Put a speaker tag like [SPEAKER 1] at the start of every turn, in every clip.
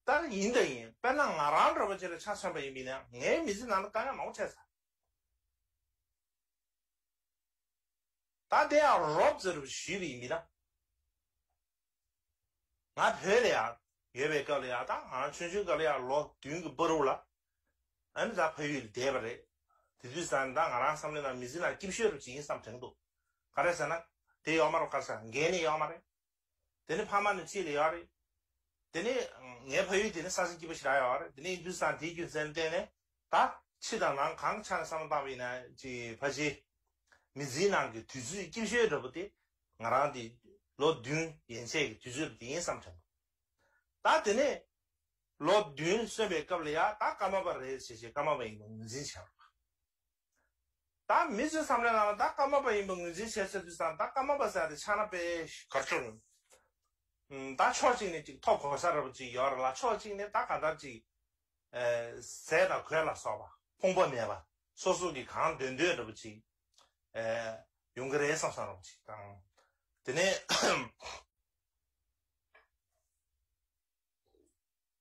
[SPEAKER 1] ལྟར་ཡིན་དང་ཡིན་དཔེར་ན་ང་རང་འདྲ་བོ་ཁྱེད་ལ་ཆ་མཚོན་པ་ཡིན་མིན་ནི་ངའི་མི་ཚེ་ནང་ལ་དཀའ་ངལ་མང་པོ་འཕྲད་ཚར། ད་དེ་ཡང་རོབ་ཙེ་རུ་བཞུད་པའི་མི་དང། ང་བོད་ལ་ཡང་ཡོད་པའི་སྐབས་ལ་ཡང་དང་ང་རང་ཆུང་ཆུང་སྐབས་ལ་ཡང་ལོ་བདུན་གྱི་སྤོ་རུ་ལ་ཨ་མི་དང་ཕ་ཡུལ་ལ་བསྡད་པ་རེད། དེ་དུས་ཟ་ནི་དང་ང་རང་བསམ་བློའི་ནང་མི་ཚེའི་ནང་སྐྱིབས་ཤོད་རུ་བྱེད་ཡིན་བསམ་དྲན་འདུག་ག་རེ་ཟེར་ན་དེ་གཡོག་མ་རུ་དཀར་ཟ་འགན་ནི་གཡོག་མ་རེད། དེ་ནི་ཕ་མ་ནི་ཆེས་ལས་ཡག་རེད། དེ་ནི། ངའི་ཕ་ཡུལ་དེ་ནི་ས་ཟིན་སྐྱིད་པོ་ཞིག་རག་ཡག་བ་རེད་དེ་ནི Hindustan དེའི་རྒྱུ་མཚན་བསྟན་ནས་ད། ཕྱི་དང་ནང་གང་ཆ་ནས་བསམ་བློ་བཏང་བ་ཡིན་ན་ཅི་ཕ་གཞི། མི་འཛིན་ནང་གི་དུས་ཚོད་སྐྱིབས་ཤོད་འདྲ་པོ་དེ། ང་རང་དེ། ལོ་བདུན་ཡན་ཆད་ཀྱི་དུས་ཚོད་དེ་ཡིན་བསམ་དྲན་པ། ད་དེ་ནི། ལོ་བདུན་སོན་པའི་སྐབས་ལ་ཡ་ད་སྐར་མ་པ་རེད་ཟེར་བྱས་སྐར་མ་པ་ཡིན་པ་ངོས་འཛིན་བྱས་པ། བདག་མི་ཚོས་བསམ་ལེ་ང་ལ་བདག་བཀའ་མ་པ་ཡིན་པ་ངོས་འཛིན་བྱེད་ཚོད་དུ་སང་བདག་བཀའ་མ་པ་ཟེར་ཏེ་ཕྱག་ན་པས་གར་བྱོན། བདག་ཕྱོགས་གཅིག་ནས་གཅིག་ཐོག་གོ་ས་ར་བ་ཅིག་ཡོད་ར་ལ་ཕྱོགས་གཅིག་ནས་བདག་ག་དར་ཅིག་ཟས་དང་གོས་ལ་སོགས་པ། ཕུང་པོ་མེད་པ་སོ་སོ་གིས་གང་འདོད་འདོད་ར་བ་ཅིག་ཡོང་གི་རེད་བསམ་སང་ར་བ་ཅིག་དང། དེ་ནས།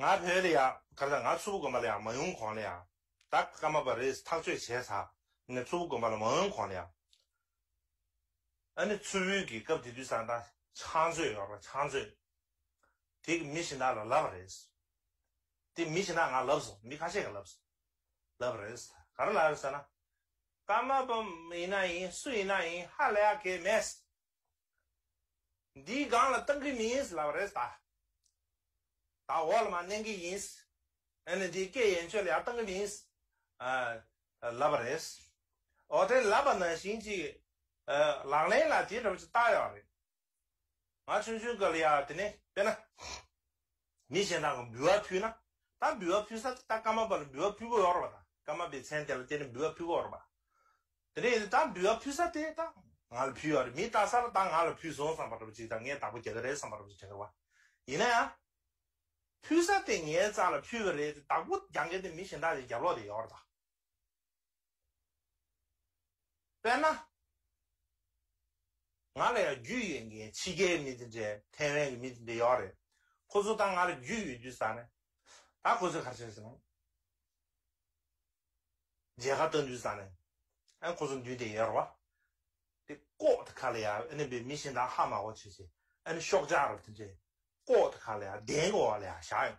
[SPEAKER 1] ང་བོད་ལ་ཡག་ག་རེ་དང་ང་ཚུར་བུ་དགོན་པ་ལ་ཡང་མ་ཡོང་གོང་ལ་ཡང་ད་ཀ་མ་པ་རེས་ཐག་གཅོད་བྱས་ཚ་ནས་ཚུར་བུ་དགོན་པ་ལ་མ་ཡོང་གོང་ལ་ཡང་ཨ་ནི་ཚུར་བུའི་གི་སྐབས་དེ་དུས་ས་མཐའ་ཆང་མཛོད་ཡོག་ར་ཆང་མཛོད་དེ་གི་མི་ཞིན་དག་ལ་ལབ་རེས་དེ་མི་ཞིན་དག་ང་ལབ་སོང་མི་ཁ་ཤས་ག་ལབ་སོང་ལབ་རེས་ག་རེ་ལབ་ཟེར་ན་ཀ་མ་པ་ཡིན་ན་ཡིན་སུ་ཡིན་ན་ཡིན་ཧ་ལ་ཡག་གེ་མེད། འདིའི་སྒང་ལ་བཏང་གི་མིན་ལབ་རེད་ད། ད་འོག་ལ་མ་གནང་གི་ཡིན། ཨ་ནི་འདིའི་སྐད་ཡན་ཆོད་ལ་ཡང་བཏང་གི་མིན། ལབ་རེད། འོ་དེ་ལབ་པ་ན་བཞིན་ཅིག་ལག་ལེན་ལ་དེ་འདྲ་བོ་ཅིག་བཏགས་ཡོད་རེད། ང་ཆུང་ཆུང་སྐབས་ལ་ཡང་དེ་ནས་དཔེར་ན། མི་གཞན་དག་གིས་འབུལ་བ་ཕུལ་ན། ད་འབུལ་བ་ཕུལ་ས་དེ་ད་སྐར་མ་པ་ལ་འབུལ་བ་ཕུལ་དགོས་ཡོང་རོགས་དང་སྐར་མ་པའི་མཚན་དེ་ལ་དེ་ནས་འབུལ་བ་ཕུལ་དགོས་རོགས་པ། དེ་ནས་ད་འབུལ་བ་ཕུལ་ས་དེ་ད་ང་ལ་ཕུལ་ཡོང་རེད་མི་ལྟ་ས་ལ་ད་ང་ལ་ཕུལ་སོང་བསམ་པ་འདྲ་བུ་ཅིག་དང་ངས་བདག་པོ་རྒྱག་གི་རེད་བསམ་པ་འདྲ་བུ་ཅིག་དྲན་གི་བ། ཡིན་ན་ཡང། ཕུལ་ས་དེ་ངའི་རྩ་ལ་ཕུལ་བ་རེད་དེ་བདག་པོ་རྒྱག་མཁན་དེ་མི་གཞན་དག་ལས་རྒྱབ་ལོག་དེ་ཡོང་རོགས་དང། དཔེར་ན། ང་ལ་ཡང་རྒྱུས་ཡོད་མཁན་ཕྱི་རྒྱལ་མི་དེ་འདྲས་ཐའེ་ཝན་གྱི་མི་དེ་འདྲས་ཡོད་རེད། ཁོ་ཚོ་དང་ང་ལ་རྒྱུས་ཡོད་དུས་ས་ནས། ད་ཁོ་ཚོས་གར་བྱས་སོང། མཇལ་ཁ་བསྟོན་དུས་ས་ནས། ཨ་ཁོ་ཚོ་མདུན་དེ་ཡོད་རེད་བ། དེ་ཀོག་ཏུ་ག་ལ་ཡ་ཨ་ནི་བའི་མི་གཞན་དང་ཧ་མ་གོ་བྱས་བྱས་ཨ་ནི་ཤོག་ལྕགས་ར་བ་དེ་འདྲས་ཀོག་ཏུ་ག་ལ་ཡ་གདན་གི་འོག་ལ་ཡ་བཞག་ཡོང།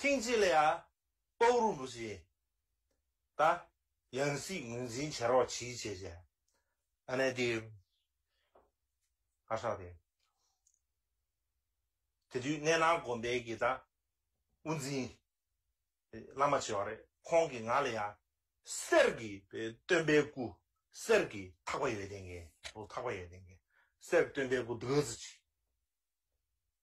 [SPEAKER 1] ཐེངས་གཅིག་ལ་ཡང་ཏོག་རུ་འབུ་བྱེད། ད་ཡང་སྲིད་ངོས་འཛིན་བྱེད་རོགས་གྱིས་བྱས་བྱས། ཨ་ནེ་དེ། ཨ་ཧྲག་དེ། དེ་དུས་གནས་ནང་དགོན་པའི་དགེ་རྩ་དབུ་འཛིན། བླ་མ་བྱེད་བ་རེད་ཁོང་གིས་ང་ལ་ཡང། གསེར་གྱི་སྟོན་པའི་སྐུ། གསེར་གྱི་ཐག་པ་ཡོད་དེ་འགེ། ཐག་པ་ཡོད་དེ་འགེ། གསེར་གྱི་སྟོན་པའི་སྐུ་འདི་ག་ཚོད་བྱེད།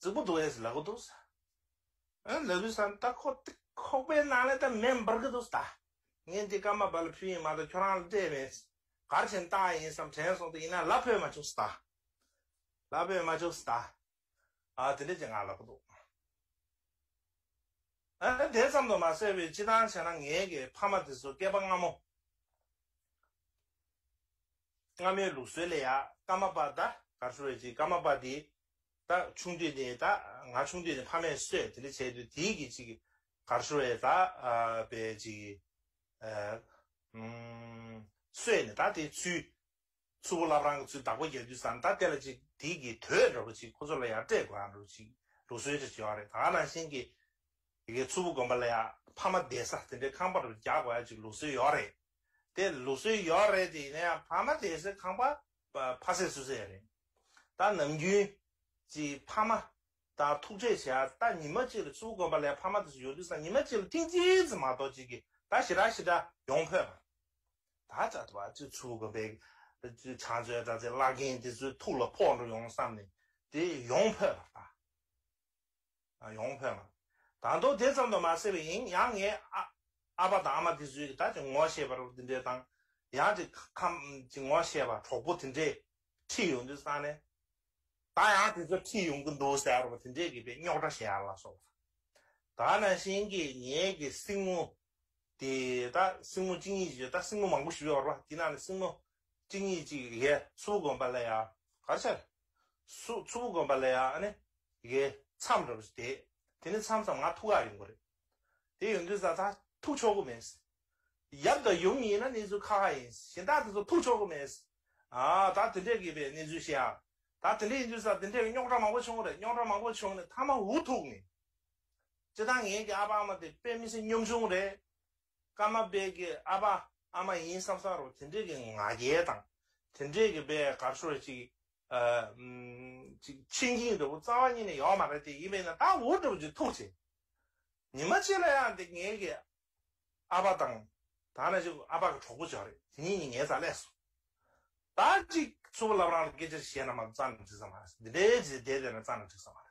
[SPEAKER 1] རྫིག་པོ་འདུག་ཨེས་ལ་གོ་འདུག་ཟ། ཨེ་ལ་བུ་ས་ད་ཁོག་ཏིག་ཁོག་པའི་ནང་ལས་ད་མེ་འབར་གི་འདུག་ཟ། ངས་འདི་སྐར་མ་བར་ལ་ཕུལ་ཡིན་མ་ད་ཁྱོད་རང་ལ་སྤྲད་མེད། གར་བྱེད་རྟགས་ཡིན་བསམ་དྲན་སོང་དུ་ཡིན་ན་ལ་ཕོད་མ་བཅུག་ཟ། ལ་ཕོད་མ་བཅུག་ཟ། ཨ་དེ་འདྲ་ཅི་ང་ལ་གོ་འདུག། ཨེ་དེ་ཙམ་དུ་མ་ཟེར་བའི་སྤྱི་སྟངས་བྱས་ན་ངའི་གི་ཕ་མ་དེ་ཚོ་སྐལ་པ་སྔ་མོ། སྔ་མའི་ལུགས་སྲོལ་ལས་ཡང་ཀ་མ་པ་ད་གར་ཤོར་བའི་ཚེ་ཀ་མ་པ་དེས་ད་ཆུང་དུས་ནས་ད་ང་ཆུང་དུས་ནས་ཕ་མས་གསོས་དེ་འདྲ་བྱས་དུས་དེའི་གི་ཅིག་གར་ཤོར་བའི་ད་པའི་ཅིག་གསོས་ནས་ད་དེའི་ཚུལ། སུ་བོ་ལབ་རང་གི་ཚུལ་བདག་པོ་རྒྱག་དུས་སམ་ད་དེ་ལ་ཅིག་དེའི་གི་དོད་འདྲ་བོ་ཅིག་ཁོ་ཚོ་ལ་ཡང་སྤྲད་དགོས་ཨང་འདྲ་བོ་ཅིག་ལུགས་སྲོལ་དེ་བྱེད་བ་རེད་ད་ནང་བཞིན་གི། ཡི་གེ་ཆུ་བོ་དགོན་པ་ལ་ཡང་ཕ་མ་བསྡད་ས་དེ་འདྲའི་ཁང་པ་འདྲ་བོ་རྒྱག་དགོས་ཨང་ཅིག་ལུགས་སྲོལ་ཡོད་རེད། དེ་ལུགས་སྲོལ་ཡོད་རེད་དེ་ཡིན་ན་ཡང་ཕ་མ་དེ་སྲིད་ཁང་པ་ཕ་སྲིད་སུ་སྲིད་རེད། ད་ནམ་རྒྱུན་གྱི་ཕ་མ་དང་ཐུག་འཕྲད་བྱས་ཡར་ད་ཉི་མ་གཅིག་ལ་བཅུ་དགོན་པ་ལས་ཕ་མ་དེ་སྲིད་ཡོད་དུས་སང་ཉི་མ་གཅིག་ལ་ཐེངས་གཅིག་ཙམ་མ་གཏོགས་གཅིག་གིས་ད་ཞི་དྲག་ཞི་དྲག་ཡོང་ཕོད་པ། ད་ལྟ་བར་དུ་བཅུ་དགོན་པའི་བྱང་བཙོན་དྲག་རྩལ་བླ་རྒན་དེ་ཚོའི་ཐུགས་ལ་ཕོག་འགྲོ་ཡོང་བསམ་ནས་དེ་ཡོང་ཕོད་པ་ད། ཡོང་ཕོད་ལ། ད་དུང་དེ་ཙམ་དུ་མ་ཟད་པའི་ཡིན་ཡང་ངས་ཨ་ཨ་ཕ་དང་ཨ་མ་དེ་ཚོའི་ད་ཅི་ངོ་ཤེས་པར་འདི་འདྲའི་དང། ཡང་དེ་ཁམ་ཅི་ངོ་ཤེས་པར་གྲོགས་པོ་དེ་འདྲས་ཁྲིད་ཡོང་དུས་སང་ནས། ད་ཡང་དེ་ཚོ་ཁྲིད་ཡོང་གི་འདུག་ཟེར་བ་དེ་འདྲས་གི་པའི་རྙོག་དྲ་ཞེ་ཨ་ལ་སོགས་པ། ད་ན་བཞིན་གི་ངེད་ཀྱི་སྲིང་མོ་དེ་ད་སྲིང་མོ་གཅིག་གཉིས་ཀྱི་ད་སྲིང་མོ་མང་པོ་ཞིག་ཡོད་པར་བ་དེ་ནང་ནས་སྲིང་མོ་གཅིག་གཉིས་གཅིག་གི་གེ་སུ་བུ་བསྒོམ་པ་ལ་ཡང་གར་ཆག། སུ་སུ་བུ་བསྒོམ་པ་ལ་ཡང་ནི་གེ་མཚམས་རེ་བ་ཞིག་དེད། དེ་ནི་མཚམས་སམ་ང་ཐུག་ག་ཡིན་དགོས་རེད། དེ་ཡོད་དུས་ས་ཐག་ཐུག་ཆོག་གི་མེད། ཡབ་དང་ཡུམ་གཉིས་ན་གནས་ཚུལ་ཁ་ཁ་ཡིན། གཞན་དག་དེ་ཚོ་ཐུག་ཆོག་གི་མེད། ད་དེ་འདྲས་གི་པའི་གནས་ཚུལ་ཤེས་ཨ། ད་དེ་འདྲས་ཡིན་དུས་ས་དེ་འདྲས་གི་རྙོག་དྲ་མང་པོ་བྱུང་རེད་རྙོག་དྲ་མང་པོ་བྱུང་ནས་ཐ་མ་འུ་ཐུག་ནས། ཅི་ད་ངེད་ཀྱི་ཨ་ཕ་ཨ་མ་དེ་དཔེ་མི་སྲིད་གཉོམ་ཆུང་རེད། ཀ་མ་པས་ཀྱི་ཨ་ཕ་ཨ་མ་ཡིན་བསམ་བསམ་རུང་དེ་འདྲས་ཀྱི་ང་རྒྱལ་དང། དེ་འདྲས་ཀྱི་པའི་གར་ཤོར་བ་ཅིག། ཆེ་འགྱིང་འདྲ་བོ་རྩ་བ་གཉིས་ནས་ཡོང་མ་རེད་དེ་ཡིན་པས་ན་ད་འུར་འདྲ་བོ་ཅིག་ཐུག་ཚེ། ཉི་མ་གཅིག་ལ་ཡང་དེ་ངེད་ཀྱི་ཨ་ཕ་དང། ད་ནས་ཅིག་ཨ་ཕ་གི་གྲོགས་པོ་བྱ་རེད་དེ་གཉིས་ནི་ངའི་ཙག་ལས་སོ། ད་ཅིག་ཚུར་ལབ་རང་ལ་སྐད་ཆ་ཞེས་ན་མ་རྩ་ནས་འགྲིག་ས་མ་རེད། འདི་འདྲའི་རྗེས་འདེད་དེ་ན་རྩ་ནས་འགྲིག་ས་མ་རེད།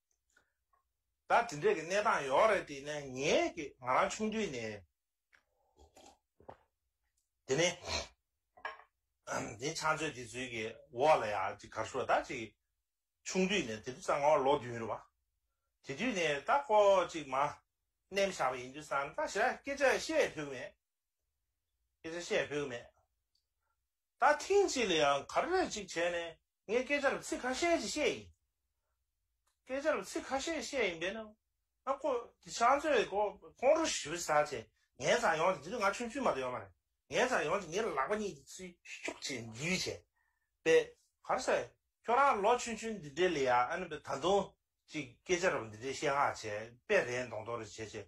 [SPEAKER 1] ད་དེ་འདྲས་ཀྱི་གནས་སྟངས་ཡོད་རེད་དེ་ནས་ངས་ཀྱི་ང་རང་ཆུང་དུས་ནས་དེ་ནས་དེ་ཆང་བཅོས་དེ་ཚུལ་གྱི་འོག་ལ་ཡང་ཅིག་གར་ཞུ་བ་ད་ཅིག་ཆུང་དུས་ནས་དེ་དུས་གཙང་ངོ་ལོ་བདུན་རེད་བ། དེ་དུས་ནས་ད་ཁོ་ཅིག་མ་གནས་མི་བཞག་པ་ཡིན་དུས་སང་ད་ཞེ་ར་སྐད་ཆ་བཤད་ཕོད་གི་མེད། སྐད་ཆ་བཤད་ཕོད་གི་མེད། ད་ཐེངས་གཅིག་ལ་ཡང་ག་རེ་རེ་ཅིག་བྱས་ནས་ངས་སྐད་ཆ་རུ་ཚིག་ཁ་ཤས་ཅིག་བཤད་ཡིན། སྐད་ཆ་རུ་ཚིག་ཁ་ཤས་བཤད་ཡིན་པས་ན། ང་ཀོ་དེ་ཕྱག་མཛོད་ཀོ་ཁོང་ཁྲོ་ཞི་བའི་ས་ཆེ། ངའི་ཚ་ཡོང་དེ་དེ་དུས་ང་ཆུང་ཆུང་མ་དག་ཡོད་མ་རེད། ངའི་ཚ་ཡོང་དེ་ངའི་ལག་པ་གཉིས་དེ་ཚུར་ཤུག་ཅིག་འཛུལ་བྱས་པས། ག་རེ་ཟེར། ཁྱོད་རང་ལོ་ཆུང་ཆུང་འདི་འདྲའི་ལ་ཡང་ཨ་ནི་ད་དུང་ཅིག་སྐད་ཆ་རུ་འདི་འདྲའི་བཤད་ཧ་བྱས་པས་རེད་མདོག་མདོག་རེ་བྱས་བྱས།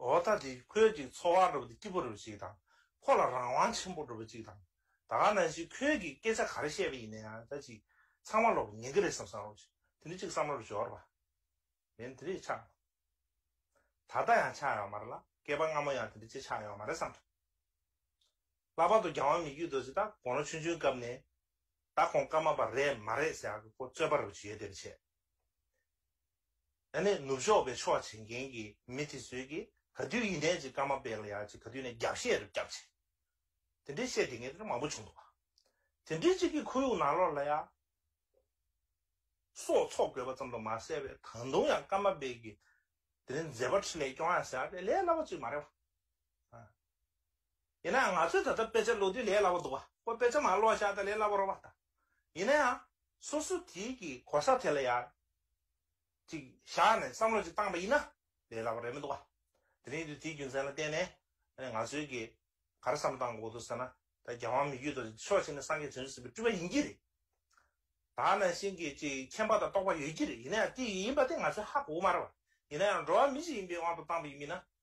[SPEAKER 1] འོ་ད་དེ་ཁོས་ཀྱི་འཚོ་བ་འགྲུབ་པ་དེ་སྐྱིད་པོ་འགྲུབ་པ་ཅིག་དང་ཁོ་ལ་རང་དབང་ཆེན་པོ་འགྲུབ་པ་ཅིག་དང་ད་ག་ནང་བཞིན་ཁོས་ཀྱི་སྐད་ཆ་ག་རེ་བཤད་པ་ཡིན་ན་ཡང་ད་ཅིག་ཚང་མ་ལོག་པ་ཉན་གི་རེད་བསམ་བསམ་རོགས་ཞིག་དེ་ནི་ཅིག་བསམ་བློ་རུ་འབྱོར་བ་མིན་དེ་རིགས་ཆགས་མེད་ད་ལྟ་ཡང་ཆགས་ཡོད་མ་རེད་ལ་སྐལ་པ་སྔ་མོ་ཡང་དེ་འདྲ་ཅིག་ཆགས་ཡོད་མ་རེད་བསམ་འདྲ། ལྷག་པར་དུ་རྒྱང་བ་མི་རྒྱུད་དོ་ཅིག་ད་གོང་ལོ་ཆུང་ཆུང་སྐབས་ནས་ད་ཁོང་སྐར་མ་པ་རེད་མ་རེད་ཟེར་ཡག་གི་ཁོ་རྩོད་པ་རེ་བ་ཇི་ཡོད་དེ་རེ་བྱས། ཨ་ནེ་ནུབ་ཕྱོགས་པའི་ཕྱོགས་བྱེད་མཁན་གྱི་མི་དེ་ཚོས་ཀྱི་ག་དུས་ཡིན་ནའི་ཅིག་ཀ་མ་པེ་ལ་ཡ་ཅིག་ག་དུས་ནས་རྒྱབ་བཤད་རུ་བརྒྱབ་ཅིག་དེ་འདྲའི་བཤད་དེ་ངས་ཀྱི་མང་པོ་བྱུང་འདུག་དེ་འདྲའི་ཅིག་གི་ཁོར་ཡུག་ནང་ལོར་ལ་ཡ་སོགས་ཚོགས་དགོས་པ་ཙམ་དུ་མ་ཟད་པའི་ད་དུང་ཡང་ཀ་མ་པེ་གྱི་དེ་རིང་མཛད་པ་ཁྲི་ལས་སྐྱོང་ཡ་ཟེར་བ་དེ་ལས་སླ་བོ་ཅིག་མ་རེད་བ། ཡིན་ན་ཡང་ང་ཚོས་ད་ལྟ་དཔེ་ཆ་ཀློག་དུས་ལས་སླ་བོ་འདུག་བ་ཁོ་དཔེ་ཆ་མ་ཀློག་ཤག་ད་ལས་སླ་བོ་རོགས་པ་ད། ཡིན་ན་ཡང་སོ་སོ་དེའི་གི་གོ་ས་དེ་ལ་ཡག་ཅིག་བཞག་ནས་བསམ་བློ་ཅིག་བཏང་པ་ཡིན་ན་ལས་སླ་བོ་རེད་མི་འདུག་བ། དེ་རིང་དུས་དེའི་རྒྱུ་མཚན་ལ་བརྟེན་ནས་ང་ཚོའི་གི་ག་རེ་བསམ་བཏང་འགོག་འདུག་ཟེར་ན་ད་རྒྱལ་དབང་མི་རྒྱུད་དུ་ཕྱོགས་ཆེན་ནས་སངས་རྒྱས་བྱོན་ཟིན་པའི་སྤྲུལ་པ་ཡིན་གྱི་རེད། ད་ནང་བཞིན་གི་ཅིག་མཁྱེན་པ་དང་རྟོགས་པ་ཡོད་ཀྱི་རེད་ཡིན་ན་ཡང་དེ་ཡིན་པ་དེ་ང་ཚོའི་ཧ་གོ་བོ་མ་རེད་བ། ཡིན་ན་ཡང་འགྲོ་བ་མི་ཞིག་ཡིན་པའི་དབང་དུ་བཏང་པ་ཡིན་མིན་ན